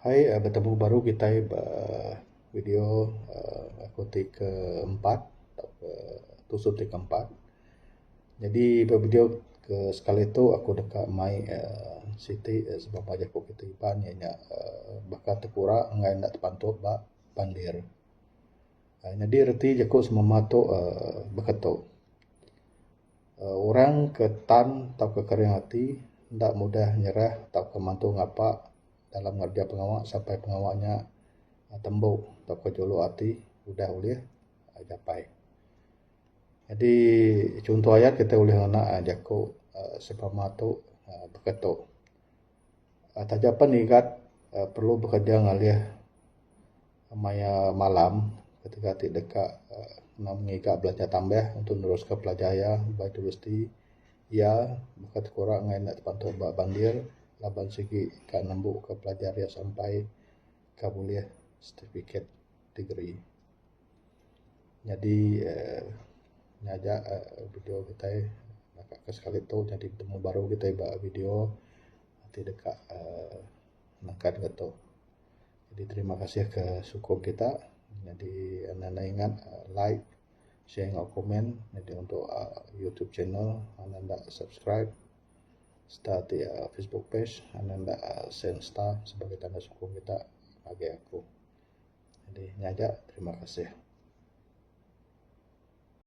Hai uhh betemu baru kitai ba video uhh aku ti ke empat uhh episode ti ke empat nyadi ba video ke sekali tu aku deka mai uhh siti sebab mah jaku kita Iban inya nya uhh baka ti kura ngan enda ti pantup ba pander. Nyadi reti jaku semamah tu uhh baka tu. uhh orang ke tan tauka kering ati enda mudah nyerah tauka mantu ngapa dalam ngereja pengawa sampai pengawa nya tembu tauka juluk ati udah ulih nyapai. Jadi chunto aye kitai ulih ngena jaku uhh sempama tu baka tu. Taja pen ngigat uhh perlu bekerja ngalih maya malam ketika ti deka uhh ngiga belanja tambah untuk neruskan pelajar iya ba universiti iya baka ti kurang meh nya dibantu ba bandir laban sigi ka nembu ka pelajar iya sampai ka bulih certificate degree. nyadi uhh nyaga uhh video kitai lakat ka sekali tu nyadi pitemu baru kitai ba video ti deka uhh nakat ne tu. Jadi terima kasih ka sukung kita nyadi enda nai ingat like share enggau comment nyadi untuk uhh youtube channel anda enda subscribe serta ti uhh facebook page anda enda sien star sebagai tanda sukung kita ngagai aku. Jadi nyaga terima kasih.